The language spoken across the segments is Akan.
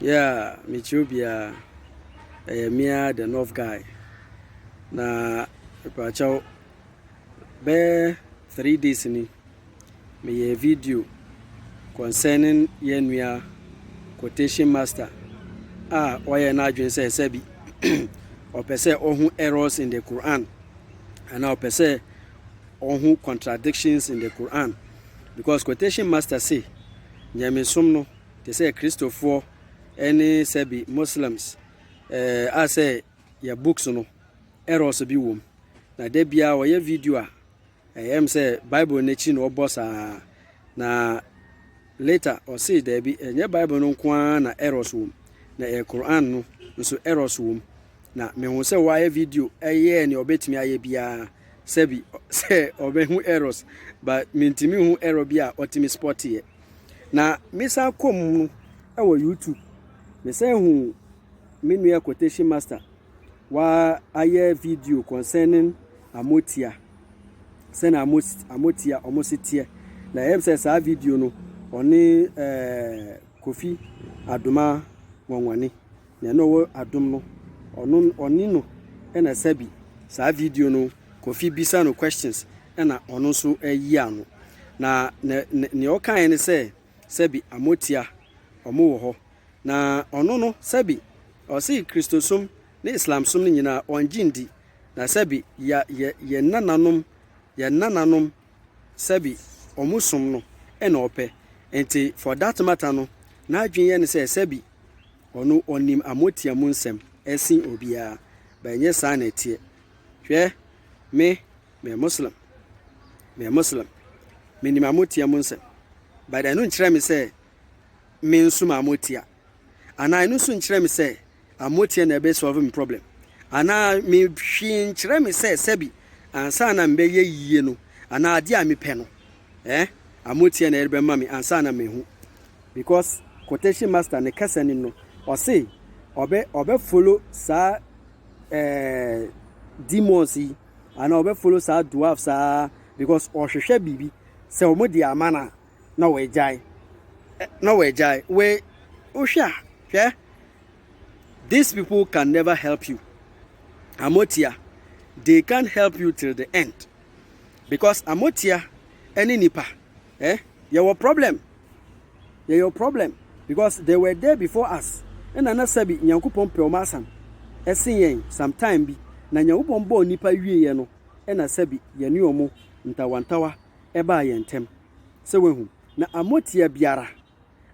Yeah, mekyerɛ obiara. Ɛyɛ me ara the North guy. Na mpakyɛw bɛyɛ three days ni meyɛ video concerning yɛn nua quotation master a ɔyɛ n'adwene sɛ ɛsɛ bi ɔpɛ sɛ ɔho errors in the Quran anaa ɔpɛ sɛ ɔho contradictions in the Quran because quotation master say nyamesom no te sɛ Kristofoɔ ne sɛbi Muslims eh, a sɛ yɛ books no errors bi wom na da biara wɔyɛ video a ɛyɛ m sɛ Bible no akyi na ɔbɔ saa na later ɔsee daabi ɛnyɛ Bible no nko ara na errors wom na ɛyɛ Quran no nso errors wom na mehu sɛ wɔayɛ video ɛyɛɛ nea ɔbɛtumi ayɛ biara sɛbi sɛ ɔbɛhu errors but mentumi hu error bi a ɔtumi spɔteɛ Na mesan kɔ mu no wɔ YouTube, mesan hu me nua quotation master wayɛ video concerning amotia sɛnea amotia wɔn si teɛ na ɛyɛ sɛ saa video no ɔne ɛɛ eh, kofi adoma nwanwani Nea na ɔwɔ adom no, ɔno ɔne no na ɛsɛ bi. Saa video no, Kofi bisa no questions na ɔno nso yi ano. Na nea ɔkaeɛ ne sɛ, sɛbi Amotia, wɔn wɔ hɔ. Na ɔno no, sɛbi ɔse Kristosom ne Islamsom no nyinaa ɔngye ndi. Na sɛbi ya yɛ yɛn nananom, yɛn nananom sɛbi wɔn som no na ɔpɛ. Nti for that matter no, n'adwene yɛ no sɛ sɛbi Ɔno ɔnim amotia mu nsɛm sen obiara, but ɛnyɛ saa na ɛteɛ. Hwɛ, me, meyɛ Muslim. Meyɛ Muslim. Menim amotia mu nsɛm. But ɛno nkyerɛ me sɛ me nso ma amotia. Anaa ɛno nso nkyerɛ me sɛ amotia na ɛbɛ solve me problem. Anaa me hwee nkyerɛ me sɛ sɛbi ansa na mebɛyɛ yie no anaa adeɛ a mepɛ no Eh a motiɛ na yɛde bɛma me ansa na mahu because quotation master ne kasa nim no ɔse ɔbɛ ɔbɛ follow saa eh, demons yi ana ɔbɛ follow saa dwarf saa because ɔhwehwɛ biribi sɛ ɔmo de ama na na wɔagyae eh, na wɔagyae we wohwɛ a hwɛ these people can never help you amotia they can't help you till the end. because amotia ɛne nipa eh yɛwɔ problem yɛyɛ problem because they were there before us ɛna na sɛbi nyankopɔn pɛ wɔn asam ɛsen yɛn sometime bi na nyankopɔn bɔɔ nipa wie yɛ no ɛna sɛbi yɛne wɔn ntawantawa ɛbaa yɛn ntɛm sɛ wahu na amotia biara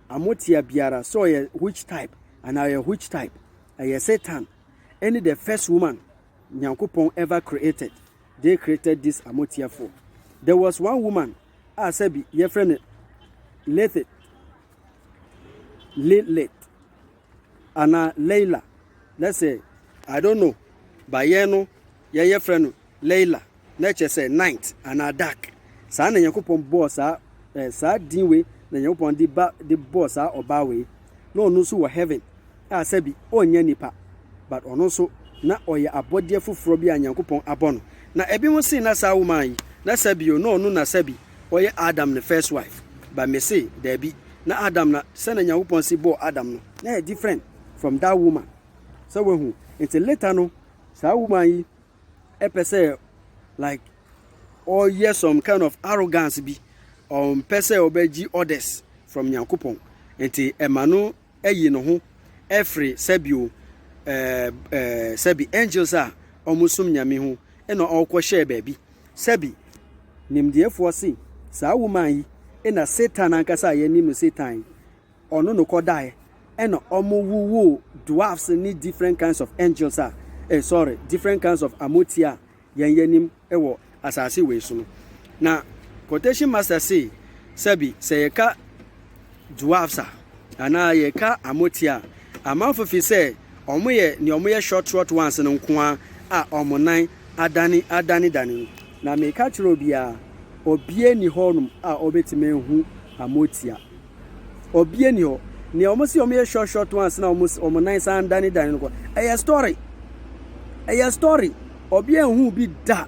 amotia biara sɛ ɔyɛ which type anaa ɔyɛ which type ɛyɛ satan ɛne the first woman Nyankopɔn ever created dey created this amotiafoɔ. There was one woman a sɛbi yɛfrɛ no Lithith, Lilith, anaa Leila, let's say. I don't know but yɛn no yɛyɛ frɛ no Leila. Na ɛkyerɛ sɛ, night anaa dark. Saa na Nyankopɔn bɔɔ saa eh, saa din wei na Nyankopɔn de ba de bɔɔ saa ɔbaa wei. Na ɔno nso wɔ heaven a sɛbi ɔnyɛ nipa, but ɔno nso na ɔyɛ abɔdeɛ foforɔ bi a Nyankopɔn abɔ no. Na ebinom se na saa woman yi, na sɛbi o, na ɔno na sɛbi ɔyɛ Adam ne first wife, but me se daabi, na Adam na sɛnea Nyankopɔn se bɔɔ Adam no, na ɛyɛ different from that woman. Sɛ wahu? Nti later no, saa woman yi, pɛ sɛ like ɔyɛ some kind of arrogance bi ɔmpɛ sɛ ɔbɛgye orders from nyankopɔn nti ɛma no ayi ne ho ɛfiri sɛbio ɛɛ ɛɛ sɛbi angels a wɔn som nyame ho ɛna ɔkɔ hyɛɛ baabi sɛbi nimdeɛfoɔ se saa woman yi ɛna satan ankasa a yɛnim no satan yi ɔno no kɔ daeɛ ɛna ɔmo wowoo dwarfs ne different kinds of angels a eh sorry different kinds of amotia a yɛn yɛnim wɔ asase wei so no na quotation master sei sɛbi sɛ yɛka dwarfs a anaa yɛka amotia a amanfo fi sɛ ɔmo yɛ nea ɔmo yɛ short short ones no nkoa a ɔmo nan adane adane dane no na meka kyerɛ obiara obie ni hɔ nom a ɔbɛtumi ahu amotia Obia ni hɔ. Nea wɔn si wɔn yɛ short short ones na wɔn wɔn nan san dane dane no kɔ. Ɛyɛ story. Ɛyɛ story. Obia nhu bi da.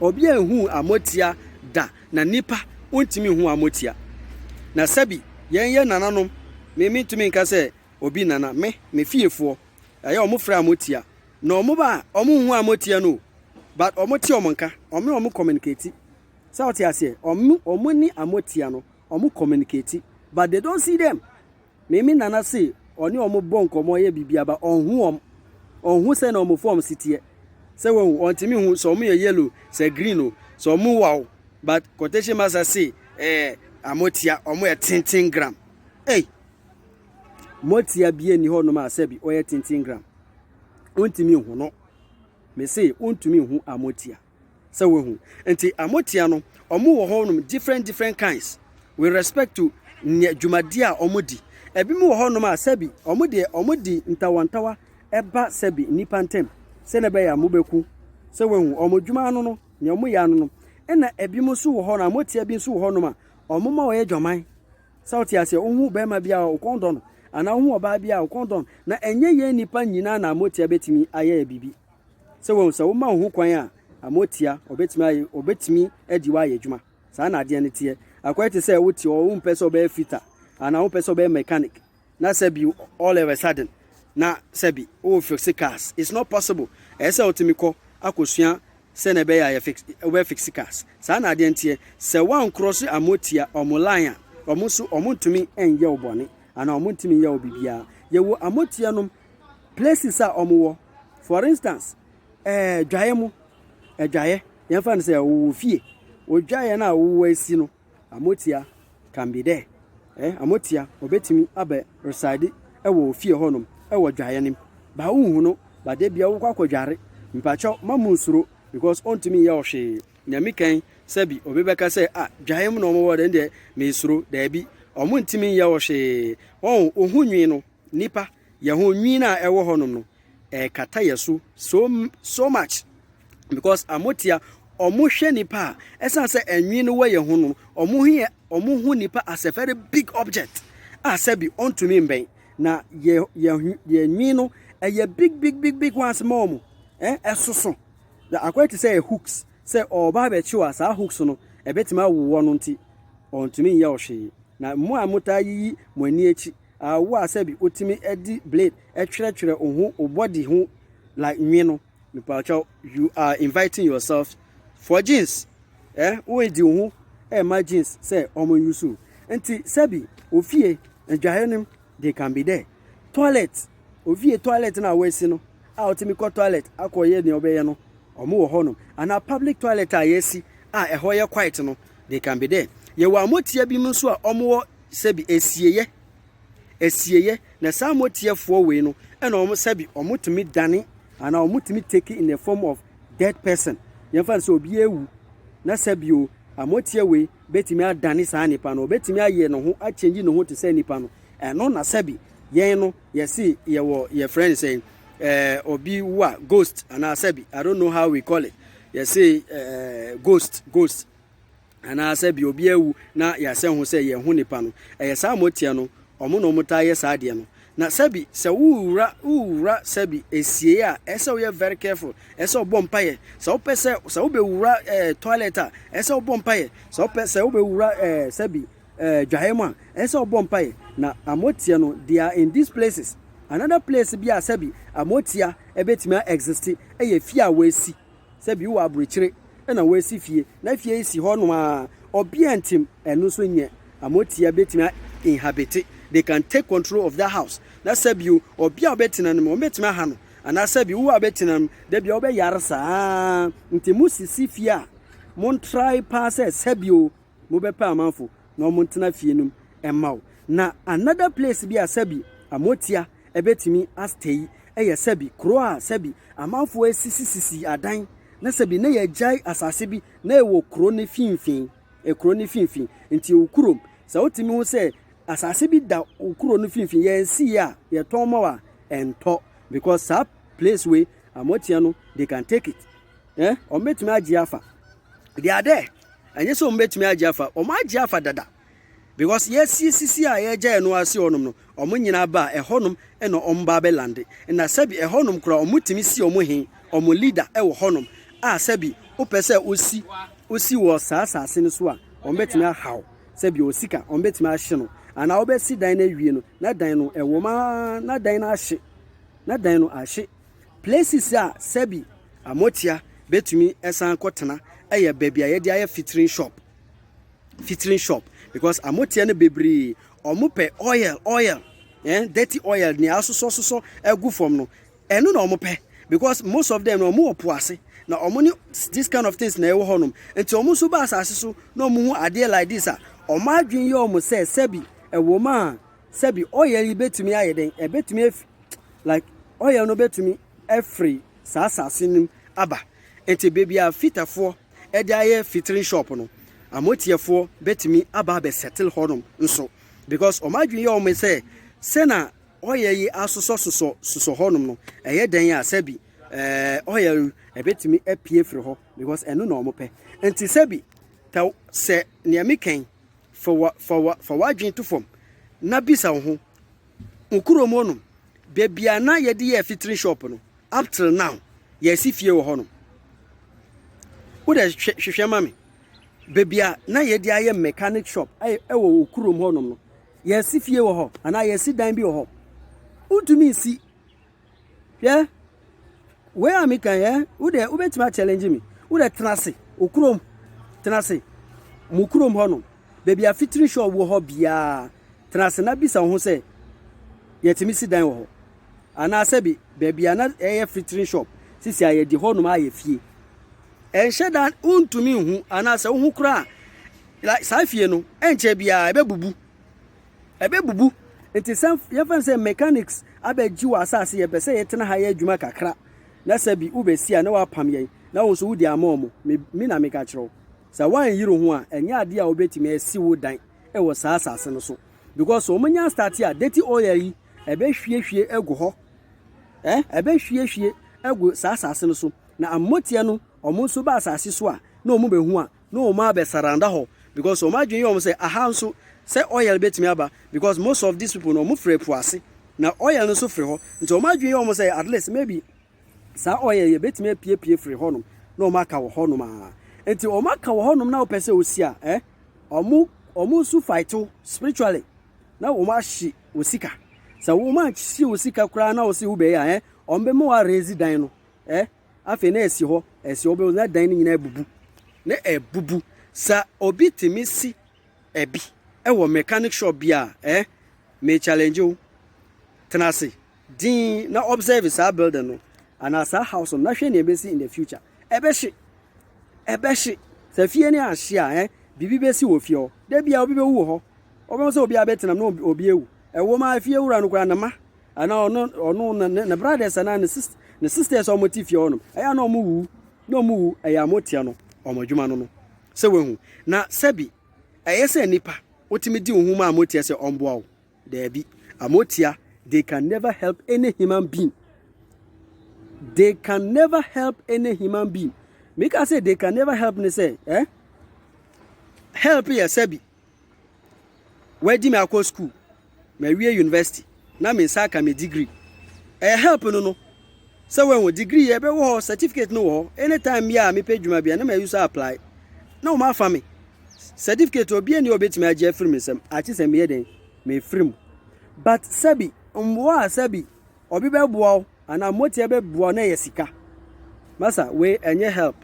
Obia nhu amotia da. Na nipa ontumi nhu amotia. Na sɛbi yɛn yɛ nananom. Me me ntumi nka sɛ obi nana. Me me fiefoɔ. Ɛyɛ wɔn frɛ amotia. Na wɔn ba a wɔn nhu amotia no o. But wɔn te wɔn nka. Wɔn ne wɔn communicate. Sɛ wote aseɛ. Wɔn wɔn ni amotia no. ɔmo communicate but they don't see them me me nana se ɔne ɔmo bɔ nkɔmɔ ɔyɛ bibia ba ɔnhu ɔm ɔnhu sɛ na ɔmo fɔm si teɛ sɛ wahu ɔntimi hu sɛ ɔmo yɛ yellow sɛ green o sɛ ɔmo waw but quotation master se ɛɛ eh, amo tia ɔmo yɛ tenten gram ei mo tia bie ni hɔ nom a sɛ bi ɔyɛ tenten gram ɔntimi hu no me se ɔntumi hu amo tia. sɛ wahu nti a motia no ɔmo wɔ hɔ nom different different kinds with respect to nea dwumadie a ɔmo di ebi mo wɔ hɔ nom a sɛbi ɔmo deɛ ɔmo di ntawantawa ɛba sɛbi nnipa ntɛm sɛ na ɛbɛyɛ a mo bɛku sɛ wahu ɔmo dwuma ano no nea ɔmo yɛ ano nom ɛna ebi mo nso wɔ hɔ na motia bi nso wɔ hɔ nom a ɔmo ma ɔyɛ dwaman sɛ wote aseɛ wohu bɛrima bi a ɔkɔn dɔ no anaa wohu ɔbaa bi a ɔkɔn dɔ no na ɛnyɛ yɛn nnipa nyinaa na motia bɛtumi ayɛ bibi Sɛ wahu sɛ woma wo ho kwan a, ama otia, obetumi ayɛ, obetumi adi wo ayɛ adwuma. Saa na adeɛ no teɛ. Akɔyɛ te sɛ wote hɔ, wompɛ sɛ wobɛyɛ fitter, anaa wompɛ sɛ wobɛyɛ mechanic, na sɛ bi all of a sudden, na sɛ bi wo fixe cars. It's not possible. Ɛyɛ sɛ wotumi kɔ akɔsua sɛnea ɛbɛyɛ a yɛfix, wobɛ fixe cars. Saa na adeɛ no teɛ. Sɛ woankorɔse ama otia, wɔn line a, wɔn nso wɔntumi nyɛ wo bɔne, anaa wɔntumi nyɛ wo biribiara. Yɛwɔ ama otia nom places a wɔn wɔ for instance ɛɛ dwaeɛ mu ɛdwaeɛ yɛn fa no sɛ ɔwɔ fie odwaeɛ no a ɔwɔ asi no amotia can be there ɛɛ amotia ɔbɛtumi abɛ reside ɛwɔ fie hɔnom ɛwɔ dwaeɛ no mu baa wohu no baa de bia wokɔ akɔ dware mpakyɛw ma mu nsuro because ɔntumi nyɛ ɔhwee nyame kan sɛbi obi bɛka sɛ a ah, dwaeɛ mu na wɔn wɔ dɛn deɛ mesuro daabi wɔn ntumi nyɛ ɔhwee wɔn ohun nwi no Nnipa, yɛn ho nwin a ɛwɔ hɔnom no, ɛrekata yɛn so so so much because amotia ɔmo hwɛ nipa a ɛsan sɛ ɛnwin no wɔ yɛn ho no ɔmo ho yɛ ɔmo ho nipa as a very big object a sɛbi ɔntumi mbɛn na yɛ yɛ yɛ nwin no ɛyɛ big big big big ones ma ɔmo ɛn eh, ɛsoso na akɔyɛ te sɛ yɛ hooks sɛ ɔba abɛkyew a saa hooks no ɛbɛtumi awowɔ no nti ɔntumi nyɛ ɔhwee na mo a motaa yiyi mo ani akyi awo a sɛbi otumi de blade twerɛtwerɛ oho obody ho like nwi no mepakyɛw you are inviting yourself for jeans eh woedi oho ɛma jeans sɛ ɔmo yusu nti sɛbi ofie adwaeɛ no they can be there toilet ofie toilet na awɔasi no a otumi kɔ toilet akɔyɛ nea ɔbɛyɛ no ɔmo wɔ hɔ nom ana public toilet a yɛasi a ɛhɔ yɛ quiet no They can be there. Yɛwɔ amɔtia bi mu nso a wɔwɔ sɛbi asieyɛ, asieyɛ, na saa amɔtiafoɔ wei no ɛna wɔn sɛbi wɔtumi dane anaa wɔtumi take in the form of dead person. Yɛmfa no sɛ obi awu na sɛbi o amɔtia wei bɛtumi adane saa nipa no, ɔbɛtumi ayɛ ne ho akyɛngyi ne ho te sɛ nipa no. Ɛno na sɛbi yɛn no yɛsi yɛwɔ yɛfrɛ no sɛ ɛɛ obi wa ghost anaa sɛbi I don't know how we call it. yɛse ɛɛ ghost ghost anaasɛ bi obi awu na yɛasɛ ho sɛ yɛn ho nipa no ɛyɛ saa moteɛ no ɔmo na ɔmo taa yɛ saa adeɛ no na sɛbi sɛ wowura wowura sɛbi esie a ɛsɛ woyɛ very careful ɛsɛ ɔbɔ mpaeɛ sɛ wopɛ sɛ sɛ wobɛwura ɛɛ toilet a ɛsɛ ɔbɔ mpaeɛ sɛ wopɛ sɛ wobɛwura ɛɛ sɛbi eh, dwaeɛ mu a, ɛyɛ sɛ ɔbɔ mpaeɛ na amotia no, they are in these places. Another place bi a sɛbi amotia ɛbɛtumi a exist ɛyɛ fie a wɔasi. Sɛbi wɔ aburokyire ɛna wɔasi fie na fie yi si hɔ nom a ɔbea ntim ɛno nso nyɛ amotia bɛtumi a inhabit. They can take control of that house. Na sɛbi o, ɔbea a ɔbɛtena no mu, ɔbɛtumi aha no. Anaa sɛbi wo a ɔbɛtena no, da bi a ɔbɛyare saa. Nti mo sisi fie a, mo ntrae paa sɛ sɛbi o, mobɛpɛ amanfo na ɔmo ntena fie nom mma wo. Na another place bi a sɛbi amotia ɛbɛtumi a stay ɛyɛ sɛbi kuro a sɛbi amanfoɔ ɛsisi sisi adan na sɛbi na yɛgyae asase bi na ɛwɔ kuro no finfin ɛkuro no finfin nti wo kurom sɛ wotumi ho sɛ asase bi da wo kuro no finfin yɛnsiiɛ a yɛtɔn ma wo a ɛntɔ because saa place wei amotia no they can take it eh ɔmo bɛtumi agye afa they are there. ɛnyɛ sɛ wɔn bɛtumi agye afa wɔn agye afa dada because yɛasie sisi a yɛagya ɛno ase hɔnom no wɔn nyinaa ba a ɛhɔnom na wɔn ba abɛlande na sɛbi ɛhɔnom koraa wɔn tumi si wɔn he wɔn leader ɛwɔ hɔnom a sɛbi wopɛ sɛ osi osi wɔ saa saase no so a wɔn bɛtumi ahaw sɛbi osika wɔn bɛtumi ahye no anaa wɔbɛsi dan no awie no na dan no ɛwɔ maa na dan no ahye na dan no ahye Places a sɛbi amotia bɛtumi san kɔtena yɛ baabi a yɛde ayɛ fitrin shop. Fitrin shop because amotia no bebree wɔn pɛ oil oil eh, dirty oil nea asosɔ sosɔ agu fam no ɛno na wɔn pɛ because most of them no wɔn wɔ po ase na wɔn ne this kind of things na ɛwɔ hɔ nom nti wɔn nso ba asase so na wɔn hu adeɛ like this a wɔn adwene yɛ wɔn sɛ sɛbi ɛwɔ mu a Sɛbi oil yi betumi ayɛ dɛn? Ebetumi afi like oil no betumi afiri saa asase no mu aba. Nti baabi a fitafoɔ de ayɛ fitiri shop no, amotiɛfoɔ betumi aba abɛ settle hɔnom nso because wɔn adwene yɛ wɔn sɛ sɛ na oil yi asosɔ sosɔ sosɔ hɔnom no ɛyɛ dɛn a sɛbi eh, oil yi ebetumi apue firi hɔ because ɛno na wɔn pɛ. Nti sɛbi tɛ sɛ nea mekɛn Fa wa, fa wa, fa w'adwene to fam na bisa wo ho, Wo kurom hɔ nom, baabi a na yɛde yɛ fitiri shop no, up till now, yɛasi fie wɔ hɔ nom? Wo dɛ hwɛ, hwehwɛ ma me. Baabi a na yɛde ayɛ mechanic shop ɛ, wɔ wo kurom hɔ nom no, yɛasi fie wɔ hɔ anaa yɛasi dan bi wɔ hɔ? Wontumi nsi. Hwɛ, wei a meka yɛ, wo deɛ wobɛtumi akyɛlɛngye me. Wo deɛ tena ase, okurom, tena ase, mo kurom hɔ no, baabi a fitiri hyɛ ɔwɔ hɔ biara, tena ase na bisa wo ho sɛ, yɛtumi si dan wɔ hɔ? Anaasɛ bi, baabi a na ɛyɛ fitiri shop, sisi a yɛde hɔnom ayɛ fie. Ɛnhyɛ da wontumi nhu, anaasɛ wohu koraa a, saa fie no, ɛnkyɛ biara ɛbɛbubu. Ɛbɛbubu. Nti sɛ yɛmfa no sɛ mechanics abɛgye wɔ asase yɛpɛ sɛ yɛtena ha yɛ adwuma kakra na sɛ bi wobɛsi a na woapam yɛn na wo nso wode ama wɔn. Me, me na meka kyerɛ wo. Sɛ woanyere wo ho a, ɛnyɛ adeɛ a wobɛtumi asi wo dan wɔ saa asase no so. Because sɛ wɔn nya start a, dirty oil yi, ɛbɛhwiehwie agu hɔ. Eh, ɛbɛhwiehwie agu saa asase no so. Na amoteɛ no, wɔn nso ba asase so a, na wɔn bɛhu a, No wɔn a bɛ surrounder hɔ because wɔn adwene yɛ wɔn sɛ aha nso sɛ oil bɛtumi aba because most of these people no wɔn firi ɛpo ase na oil no nso firi hɔ nti wɔn adwene yɛ wɔn sɛ at least maybe saa oil yɛ bɛtumi apiepie firi hɔ nom na wɔn aka wɔ hɔ nom a nti wɔn aka wɔ hɔ nom na wɔpɛ sɛ wɔsi a eh wɔn wɔn nso fight wo spiritually na wɔn ahye wɔ sika sɛ wɔn anhye wɔ sika koraa na wɔsi wo bɛyɛ a eh wɔn bɛma wɔ arezi dan no eh afei na ɛsi hɔ, ɛsi hɔ, wobɛhu na dan no nyinaa abubu, na abubu. Sɛ obi tumi si ɛbi wɔ mechanic shop bi a, eh, me challenge wo. Tena ase, din na observe saa building no, anaa saa house no, na hwɛ nea ɛbɛsi in the future. Ɛbɛhye, ɛbɛhye. Sɛ fie no ahye a, eh, biribi bɛsi wɔ fie hɔ. Da biara obi bɛwu wɔ hɔ. Wobɛhu sɛ obi abɛtenam na obi awu. Ɛwɔ mu a, fie wura no koraa ne ma. Ana ɔno ɔno na ne brothers ana ne sisters ne sisters a wɔte fie hɔnom ɛyɛ ana wɔn wu na wɔn wu ɛyɛ a wɔteɛ no wɔn adwuma no no sɛ wɔahu na sɛbi ɛyɛ sɛ nipa wotumi di ohun mu a wɔteɛ sɛ ɔmboa wo daabi amotia they can never help any human being they can never help any human being mika sɛ they can never help ne sɛ eh help yɛ sɛbi Wadi me akɔ sukuu, mawie university na me nsa aka me degree. Ɛyɛ help no no. Sɛ wɔahu degree yɛ bɛwɔ hɔ, certificate no wɔ hɔ. Anytime bi a mepɛ adwuma bi a na ma use apply. Na wɔn afa me. Certificate obi ani a obetumi agye afiri me nsam. Akyi sɛ meyɛ den, mefiri mu. But sɛbi mmoa a sɛbi obi bɛboa wo anaa motia bɛboa wo na ɛyɛ sika. Masa wei ɛnyɛ help.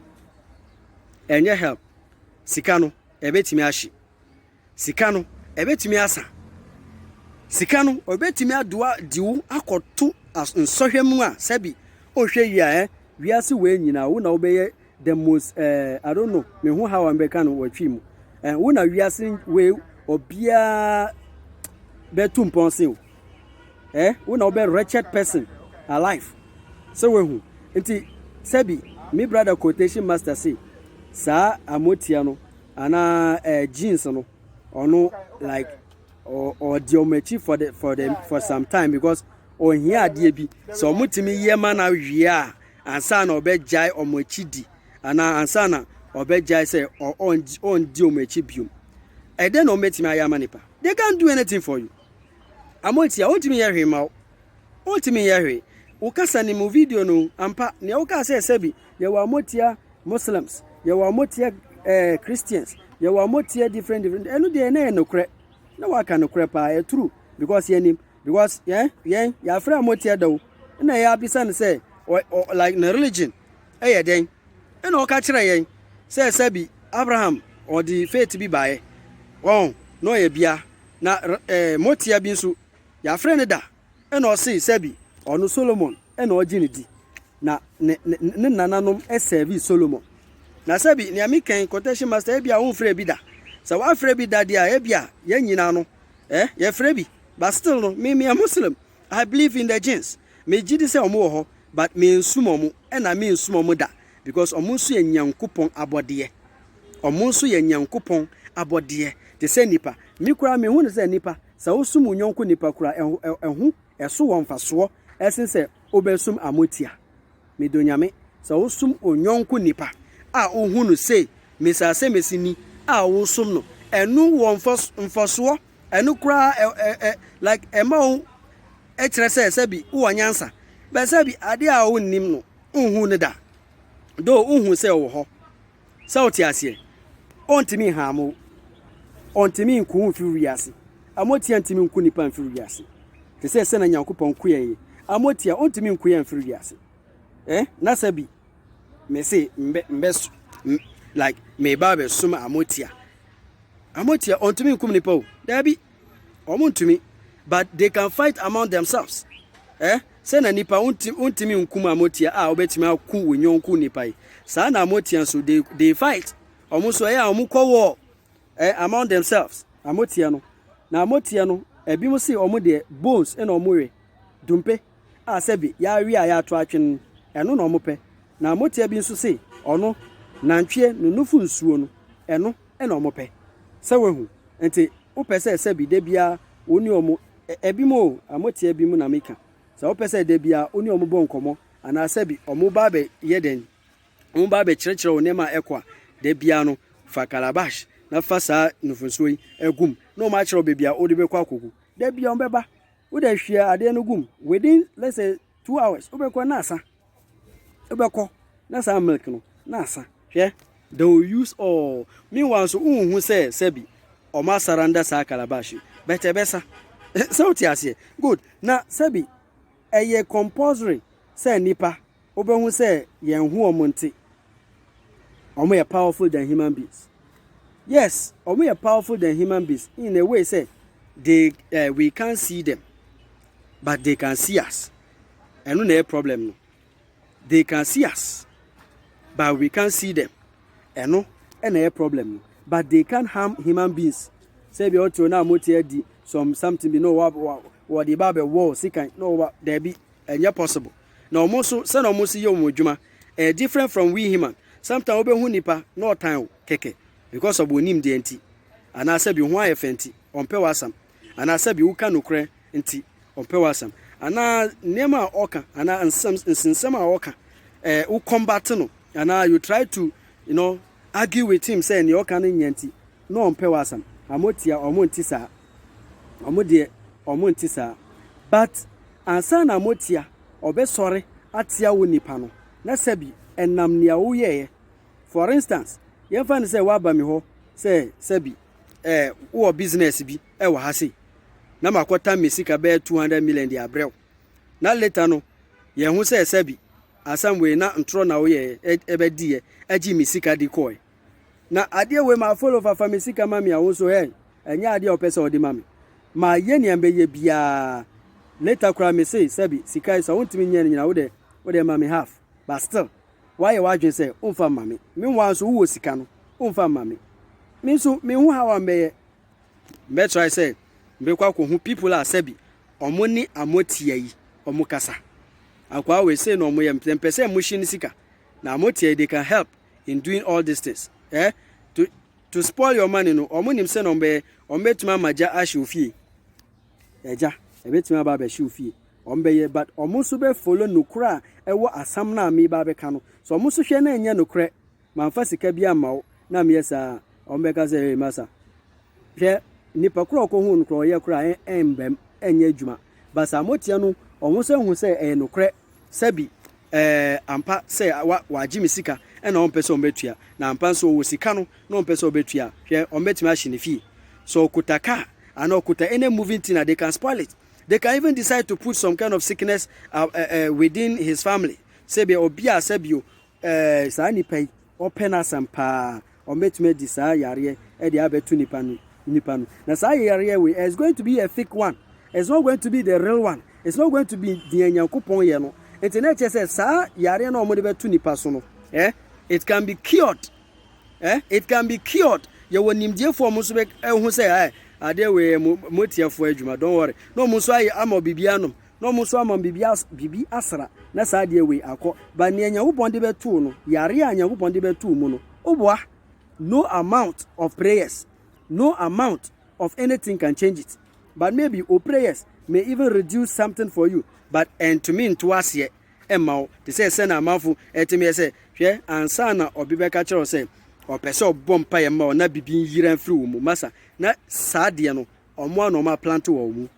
Ɛnyɛ help. Sika no. ɛbɛtumi ahye. Sika no, ɛbɛtumi asa. Sika no, ɔbɛtumi adoa de wo akɔto nsɔhwɛ mu a sɛbi ɔhwɛ yi a ɛ wiase wei nyinaa wo na wobɛyɛ the most eh, I don't know me ho how a mbɛka no wɔtwi mu eh, wo na wiase wei obiara bɛtu mpɔn se o. eh wo na wobɛ wretched person alive sɛ wahu nti sɛbi me brother quotation master say saa amotia no anaa eh, jeans no ɔno like ɔdi ɔmo akyi for the for the for some time because ɔhia adeɛ bi sɛ ɔmo tumi yɛ ma na awie a ansa na ɔbɛgyae ɔmo akyi di anaa ansa na ɔbɛgyae sɛ ɔndi ɔmo akyi biom ɛdɛ na ɔmo atumi ayɛ ama nipa they can't do anything for you. Ama ɔnti a, ɔntumi nyɛ hwee mma wo. Ɔntumi nyɛ hwee. Wo kasa ne mu video no, ampa, nea wokaa sɛ sɛbi, yɛwɔ a motia Muslims, yɛwɔ a motia eh, Christians, yɛwɔ a motia different different, ɛno deɛ na yɛ nokorɛ. Na waka nokorɛ paa, yɛ true, because yɛnim, because yɛn, yɛn, yɛafrɛ a motia da o, na yɛ abisa no sɛ, like ne religion, ɛyɛ dɛn? Ɛna ɔka kyerɛ yɛn sɛ sɛbi Abraham ɔde faith bi baeɛ, wɔn, na ɔyɛ bia, Na rmotia bi nso, yɛafrɛ no da, ɛna ɔsee sɛbi ɔno, Solomon, na ɔgye no di, na ne nananom sɛɛvee Solomon. Na sɛbi, nea mekɛn, Quotation Master, ebia wonfrɛɛ bi da. Sɛ wɔafrɛ bi da deɛ a, ebia yɛn nyinaa no, eh, yɛfrɛ bi. But still no, me, meyɛ Muslim. I believe in the jinns. Megye di sɛ wɔwɔ hɔ, but mensom wɔn, ɛna mensom wɔn da, because wɔn nso yɛ Nyankopɔn abɔdeɛ. Wɔn nso yɛ Nyankopɔn abɔdeɛ te sɛ nnipa. Me koraa mehu no sɛ nnipa, sɛ wosum wo yɔnko nnipa koraa ɛho, ɛho, ɛso wɔ mfasoɔ ɛsen sɛ wobɛsum amotia. Medɔ Nyame. Sɛ wosum wo yɔnko nnipa a wohu no se Mesasɛmesi ni a wosom no, ɛno wɔ mfasoɔ, ɛno koraa ɛ, ɛ, ɛ, like ɛma wo kyerɛ sɛ sɛbi wowɔ nyansa. But sɛbi adeɛ a wonnim no, wonhuu no da. Though wohu sɛ ɔwɔ hɔ. Sɛ wote aseɛ? Ɔntumi nhaame wo. Ɔntumi nku wo mfiri wiase. Amotia ntumi nku nipa mfiri wiase. Te sɛ sɛna Nyankopɔn ku yɛn yi. Amotia, ɔntumi nku yɛn mfiri wiase. Eh, na sɛ bi, mese, mbɛ, mbɛ, m, like, meba abɛsom amotia. Amotia, ɔntumi nkum nipa o. Daabi. Ɔmo ntumi. But they can fight among themselves. Eh? Sɛ na nipa ontimi nku mu a motia a obetumi aku wo nyɔnko nipa yi saa na motia nso they they fight ɔmo nso ɛyɛ a ɔmo kɔ war eh among themselves na motia no na motia no ebi mo se ɔmo deɛ bones ɛna ɔmo we dumpe a sɛbi yɛawe a yɛato atwene no ɛno na ɔmo pɛ na motia bi nso se ɔno nantwie no nufo nsuo no ɛno ɛna ɔmo pɛ sɛ wahu nti wopɛ sɛ sɛbi da biara wo ne ɔmo Ebi mu o, mo te ebi mu na meka. Sɛ wopɛ sɛ da biara wo ne wɔn bɔ nkɔmmɔ anaa sɛ bi wɔba abɛyɛ dɛn, wɔba abɛkyerɛkyerɛ wo nneɛma a ɛkɔ a, da biara no, fa calabash na fa saa nufosuo yi gu mu na wɔn akyerɛ wo baabi a wode bɛkɔ akɔgu. Da biara wɔbɛba, wode ahwie adeɛ no gu mu, within let's say two hours, wobɛkɔ na asa. Wobɛkɔ na saa milk no na asa. Hwɛ! They will use all. Meanwhile nso wonhu sɛ sɛbi wɔn asaranda saa calabash yi but ɛbɛsa. Sɛ wote aseɛ? Good. Na sɛbi ɛyɛ compulsory sɛ nnipa wobɛhu sɛ yɛn ho wɔn nte. Wɔn yɛ powerful than human beings. Yes, wɔn yɛ powerful than human beings in a way sɛ they, uh, we can't see them but they can see us. Ɛno na ɛyɛ problem no. They can see us but we can't see them. Ɛno na ɛyɛ problem no. But they can't harm human beings. Sɛ ebi a ɔte hɔ na mote adi some something bi na wɔde ba abɛwɔ wo sekan na wɔba daabi ɛnyɛ possible. Na wɔn nso sɛ na wɔn si yɛ wɔn adwuma ɛyɛ different from we human. Sometimes wobɛhu nipa na ɔtan wo kɛkɛ because of onim deɛ nti anaasɛ bi ho ayɛ fɛ nti ɔmpɛ w'asɛm anaasɛ bi woka nokorɛ nti ɔmpɛ w'asɛm anaa nneɛma a ɔka anaa nsɛm nsensɛm a ɔka eh, wo combat no anaa you try to you know argue with him sɛ nea ɔka no nyɛ nti na ɔmpɛ w'asɛm amo tia ɔmo nti saa ɔmo deɛ ɔmo nti saa but ansa na amo tia ɔbɛsɔre atia wo nipa no na sɛbi ɛnam nea woyɛɛ for instance yɛmfa no sɛ woaba mi hɔ sɛ sɛbi eh, wowɔ business bi wɔ ha sei, na makɔtam me sika bɛyɛ 200 million de abrɛ wo. Na later no, yɛn ho sɛ sɛbi asɛm wei na ntorɔ na woyɛɛ ɛbɛ diiɛ agye me sika di kɔɛ. Na adeɛ wei ma follow fa fa me sika ma me a wo nso hɛn, ɛnyɛ adeɛ a ɔpɛ sɛ ɔde ma me. Ma yɛ nea mbɛyɛ biaa. Later koraa me se sɛbi sika yi sɛ wontumi nyɛ no nyina wo deɛ wo deɛ ma me half. But still, woayɛ w'adwene sɛ womfa mma me. Meanwhile nso wowɔ sika no, womfa mma me. Me nso menhu how a mbɛyɛ Mɛtrae sɛ mɛkɔ akɔhu people a sɛbi ɔmo ne amotia yi ɔmo kasa. Akwaa wei sei na ɔmo yɛ mpɛ mpɛ sɛ mo hye ne sika. Na amotia yi they can help in doing all these things. Eh? To, to spoil your money no, ɔmo nim sɛ na ɔmo bɛyɛ, ɔmo bɛtumi ama gya ahye ofie. Ɛgya, ɛbɛtumi aba abɛhye ofie. Ɔmo bɛyɛ, but ɔmo nso bɛ follow nokorɛ a ɛwɔ asɛm no a meba abɛka no. So ɔmo nso hwɛ na ɛnyɛ nokorɛ. mamfa sika bi amma wo na meyɛ saa a, wɔbɛka sɛ, Ei, masa. Hwɛ, nipa koro a ɔkɔhuu no koraa ɔyɛ koraa ɛmbam, ɛnyɛ adwuma. Ba saa moteɛ no, wɔn nso ahu sɛ ɛyɛ nokorɛ, sɛbi, ɛɛ, ampa sɛ wa, wagye me sika na wɔmpɛ sɛ wɔbɛtua, na ampa nso ɔwɔ sika no na wɔmpɛ sɛ wɔbɛtua a, hwɛ, wɔbɛtumi ahye ne fie. Sɛ ɔkuta car anaa ɔkuta any moving thing a, they can spoil it. They can even decide to put some kind of sickness uh, uh, uh, within his family. Sɛbi, obi a sɛbi o, Ɛɛ, saa nnipa yi, wɔpɛ no asɛm paa. Wɔbɛtumi adi saa yareɛ de abɛto nnipa no, nnipa no. Na saa yareɛ wei, it's going to be a fake one. It's not going to be the real one. It's not going to be deɛ Nyankopɔn yɛ no. Nti na ɛkyerɛ sɛ saa yareɛ no a wɔde bɛto nnipa so no, eh, it can be cured. Eh, it can be cured. Yɛwɔ nimdiefoɔ wɔn nso bɛhu sɛ, eh, adeɛ wei yɛ mo, mo tiafoɔ adwuma, don't worry. Na wɔn nso ayɛ ama biribi anom. na ɔmo nso ama biribi as biribi asra na saa adeɛ wei akɔ but nea Nyankopɔn de bɛtoo no yareɛ a Nyankopɔn de bɛtoo mu no oboa no amount of prayers no amount of anything can change it but maybe o prayers may even reduce something for you but ɛntumi nto aseɛ ɛmma wo te sɛ sɛ na amanfo ɛtumi yɛ sɛ hwɛ ansa na ɔbi bɛka kyerɛ wo sɛ ɔpɛ sɛ ɔbɔ mpaeɛ ma wo na biribi nyira mfiri wo mu masa na saa adeɛ no ɔmo a na ɔmo aplante wɔ wo mu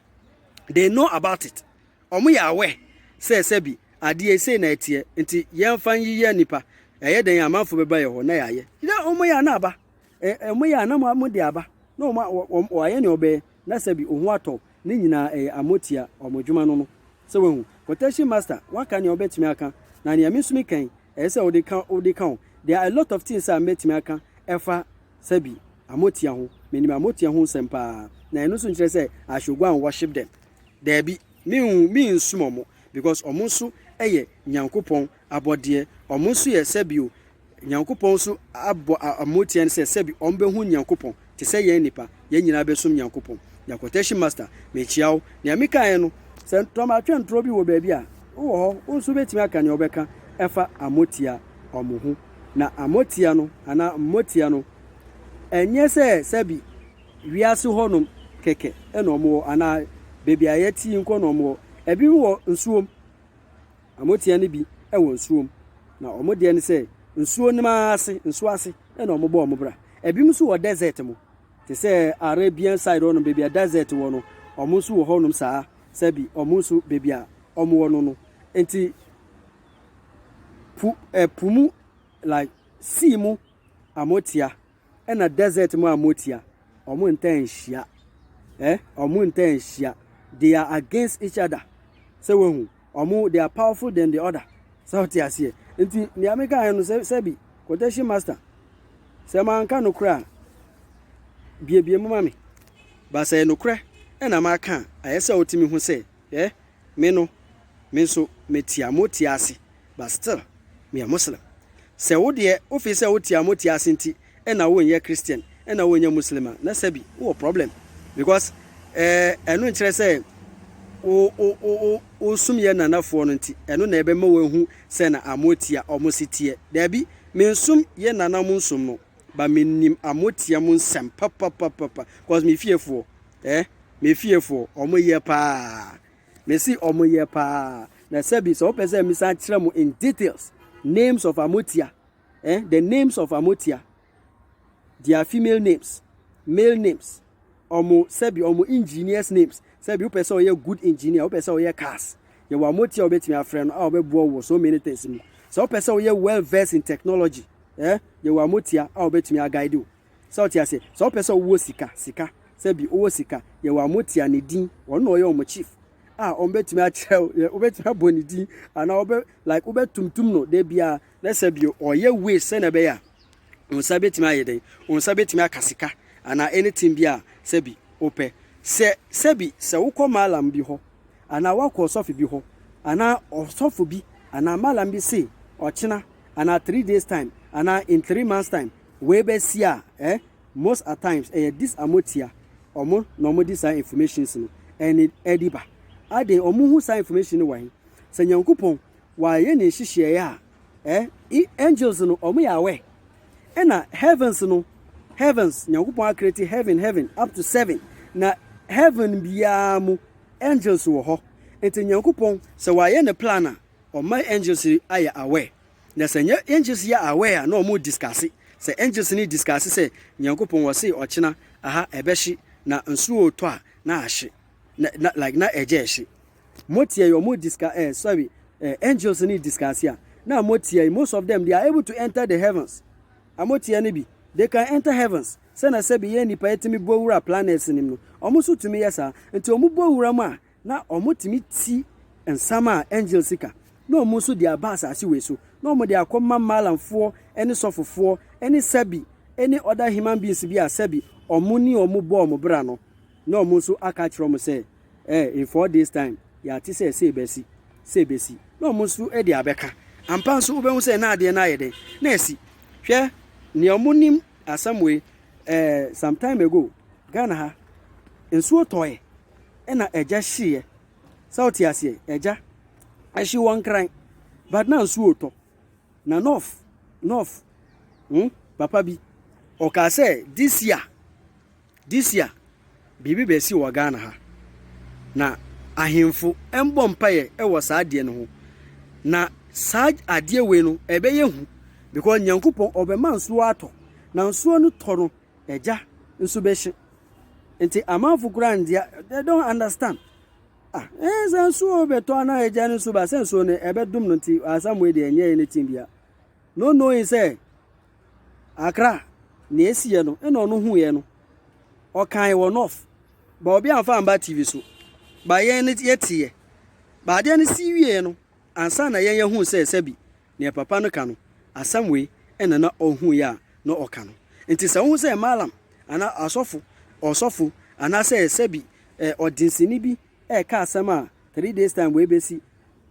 they know about it wɔn yɛ awɛ sɛ sɛbi adeɛ sei na ɛteɛ nti yɛmfa nyiyɛ nipa ɛyɛ dɛn amanfo bɛba yɛ hɔ na yɛayɛ na wɔn yɛ ana aba wɔn yɛ ana mo de aba na wɔn wɔayɛ ne ɔbɛɛ na sɛbi ohun atɔ ne nyinaa ɛyɛ amotia wɔn adwuma no no sɛ wɔn quotation master waka nea ɔbɛtumi aka na nea me nso mi kan ɛsɛ sɛ wode ka wode ka ho. There are a lot of things a mɛtumi aka ɛfa sɛbi amotia ho. Menim amotia ho nsɛm paa. Na ɛno nso nkyerɛ sɛ I should go and worship them. Daabi, menhu mensom wɔn because wɔn nso yɛ Nyankopɔn abɔdeɛ. Wɔn nso yɛ sɛbi o, Nyankopɔn nso abɔ amotia no sɛ sɛbi wɔbɛhu Nyankopɔn. te sɛ yɛn nnipa, yɛn nyinaa bɛsom Nyankopɔn. Na quotation master, mekyia wo. Nea mekaeɛ no, sɛ ntɔmatwɛntorɔ bi wɔ baabi a, wowɔ hɔ, wo nso wobɛtumi aka nea wobɛka ɛfa Amotia wɔn ho. Na Amotia no, anaa Mmotia no, ɛnyɛ sɛ sɛbi wiase hɔnom kɛkɛ na wɔwɔ, anaa baabi a yɛte yi nko na wɔwɔ. Ɛbinom wɔ nsuom, Wɔteɛ no bi wɔ nsuo mu, na wɔn deɛ ne sɛ nsuo no ara ase, nsuo ase na wɔbɔ wɔn bra. Ebinom nso wɔ desert mu te sɛ Arabian side hɔnom baabi a desert wɔ no, wɔn nso wɔ hɔnom saa sɛbi wɔn nso baabi a wɔn wɔ no no. Nti po ɛpo mu like sea mu amotia. Ɛna desert mu a motia ɔmo ntaa nhyia eh ɔmo ntaa nhyia they are against each other sɛ wahu ɔmo they are powerful than the other sɛ ɔte aseɛ nti nea meka ayɛ no sɛ sɛbi quotation master sɛ manka no korɛ a biebie mu ma me ba sɛ nokorɛ ɛna maka a ayɛ sɛ wotumi ho sɛ eh Me no me nso me tia mo tia ase but still me yɛ Muslim sɛ wo deɛ wo feel sɛ wo tia mo tia ase nti na wo nyɛ Christian na wo nyɛ Muslim a na sɛbi wo wɔ problem because eh ɛno nkyerɛ sɛ wo wo wo wo wo som yɛ nana foɔ no nti ɛno na ɛbɛ ma wo ahu sɛ na amo tia ɔmo se teɛ daabi me nsom yɛ nana mo nsom no but me nim a mo tia mo nsɛm papapapapa cause me fie foɔ eh me fie foɔ ɔmo yɛ paa me si ɔmo yɛ paa na sɛbi sɛ ɔpɛ sɛ misa kyerɛ mo in details names of amotia eh the names of amotia their female names male names wɔn sɛbi wɔn engineers names sɛbi wopɛ sɛ ɔyɛ good engineer wopɛ sɛ ɔyɛ cars yɛwɔ amoti a wobɛtumi afrɛ no a wɔbɛboa wɔ so many things mu sɛ wopɛ sɛ woyɛ well versed in technology eh yɛwɔ amotia a wɔbɛtumi aguide wo sɛ wote ase sɛ wopɛ sɛ wowɔ sika sika sɛbi wowɔ sika yɛwɔ amotia ne din wɔn na ɔyɛ wɔn chief a wɔbɛtumi akyerɛ wo wobɛtumi abɔ ne din anaa wɔbɛ like wobɛtumtum no da biara na sɛbi ɔyɛ ways sɛnea ɛbɛyɛ a Wo nsa betumi ayɛ dɛn? Wo nsa betumi aka sika anaa anything bi a sɛbi wopɛ. Sɛ sɛbi sɛ wokɔ mallam bi hɔ anaa woakɔ ɔsɔfo bi hɔ anaa ɔsɔfo bi anaa mallam bi se ɔkyena anaa three days time anaa in three months time wei bɛsi a eh most at times ɛyɛ this a motia ɔmo na ɔmo de saa informations no ɛne ɛde ba. Aden ɔmo hu saa information no wɔ he? Sɛ Nyankopɔn wayɛ ne nhyehyɛeɛ a eh i angels no ɔmo yɛ aware ɛna heavens no heavens nyankopɔn akreti heaven heaven up to seven na heaven biara mu angels wɔ hɔ nti nyankopɔn sɛ wayɛ ne plan a ɔma angels ayɛ aware na sɛ nyɛ angels yɛ aware a na ɔmo discuss sɛ angels ne discuss sɛ nyankopɔn wɔse ɔkyena aha ɛbɛhye na nsuo tɔ a na ahye na, na like na ɛgya ɛhye Mo tia yi omo discuss eh sorry eh angels ni discuss ya na mo tia yi most of them they are able to enter the heavens amo tia ni bi they can enter heavens sɛ na sɛ bi yɛ nipa yɛ timi bɔ wura planets nim no omo so tumi yɛ saa nti omo bɔ wura mu a na omo timi ti nsam a angels ka na omo so de aba asase wei so na omo de akɔ ma malam foɔ ɛne sɔfo foɔ ɛne sɛ bi ɛne other human beings bi a sɛ bi omo ni omo bɔ omo bra no Na ɔmo nso aka akyerɛ ɔmo sɛ, Eh, in four days time, yɛate sɛ sei bɛsi, sei bɛsi. Na ɔmo nso de abɛka. Ampa nso wobɛhu sɛ na adeɛ no ayɛ dɛn? Na asi. Hwɛ, nea ɔmo nim asɛm wei, eh, some time ago, Ghana ha, nsuo tɔɔɛ, ɛna agya hyeeɛ. Sɛ wote aseɛ, agya ɛhye wɔ Nkran, but na nsuo retɔ. Na Nɔf, Nɔf, hmm, papa bi, ɔkaa sɛ this year, This year biribi bɛsi wɔ Ghana ha na ahenfo mbɔ mpaeɛ ɛwɔ saa adeɛ no ho na saa adeɛ wei no ɛbɛyɛ hu because Nyankopɔn ɔbɛma nsuo atɔ na nsuo no tɔ no ɛgya nso bɛhye nti amanfo koraa ndia they don't understand ah ɛɛ eh, sɛ nsuo bɛtɔ anaa ɛgya no nso ba sɛ nsuo no ɛbɛdom no nti asam wei deɛ ɛnyɛ anything bia no knowing sɛ Accra, nea esiiɛ no, ɛna ɔno huiɛ no, ɔkae wɔ North, ba obi amfa amba TV so, ba yɛn no yɛteeɛ. Ba adeɛ no sii wieeɛ no, ansa na yɛn yɛhuu sɛ sɛbi nea papa no ka no, asɛm wei ɛna na ɔhuiɛ a na ɔka no. Nti sɛ wohu sɛ Mallam anaa asɔfo, ɔsɔfo, anaasɛ sɛbi ɔdensini bi ɛka asɛm a three days time wei bɛsi,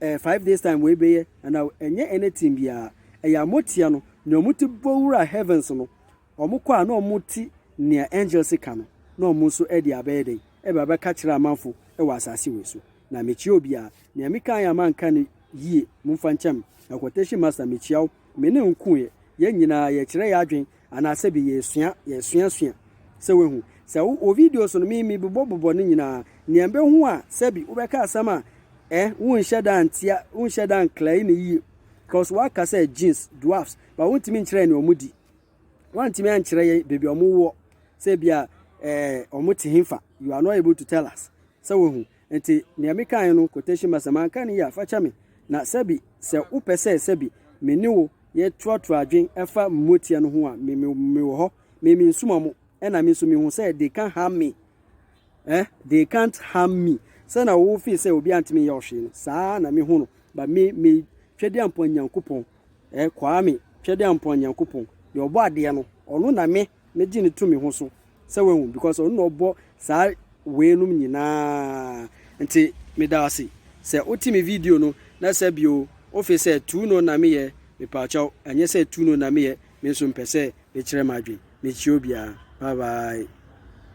ɛɛ five days time wei bɛyɛ, ɛna ɛnyɛ anything biara. Ɛyɛ a moteɛ no, nea wɔte bɔ wura heavens no, wɔkɔ a na wɔte nea angels ka no, na wɔn nso de abɛyɛ dɛn? Ɛba bɛka kyerɛ amanfo wɔ asase wei so. Na mekyia obiara. Nea mekaeɛ a manka no yie, momfa nkyɛ me. Na quotation master, mekyia wo. me ne wo ko ɛ, yɛn nyinaa yɛkyerɛ yɛn adwen anaa sɛbi yɛsua, yɛsuasua. Sɛ wahu. Sɛ wo, wɔ videos no me, me bobɔ bobɔ no nyinaa, nea mbehu a sɛbi wobɛka asɛm a ɛ, wo nhyɛ da ntia, wo nhyɛ da nklɛe no yie, cos woaka sɛ genes, dwarfs, but wo ntumi nkyerɛ yɛn nea ɔmo di. Woantumi ankyerɛ yɛn baabi a ɔmo woɔ, sɛ ebia eh, ɔmo te henfa, you are not able to tell us. Sɛ wahu. Enti nea me kae no quotation mark sɛ manka no yie a fakyɛ me na sɛbi sɛ wo pɛ sɛ sɛbi me ne wo yɛ trɔ trɔ adwen ɛfa mmoteɛ no ho a me me me wɔ hɔ me me nsuma mo ɛna me nso me hu sɛ they can't harm me eh they can't harm me sɛ na wo feel sɛ obi antimi yɛ ɔhwee no saa na me hu no but me me twɛdi ampɔn nyankopɔn eh kwaa me twɛdi ampɔn nyankopɔn deɛ ɔbɔ adeɛ no ɔno na me me gye no to me ho so sɛ wahu because ɔno na ɔbɔ saa wei nom nyinaa nti meda ase sɛ wote me video no na sɛ bio wofe sɛ tu no na meyɛ mepaakyɛw ɛnyɛ sɛ tu no na meyɛ me nso mpɛ sɛ mekyerɛ m'adwen mekyia obiara bye bye.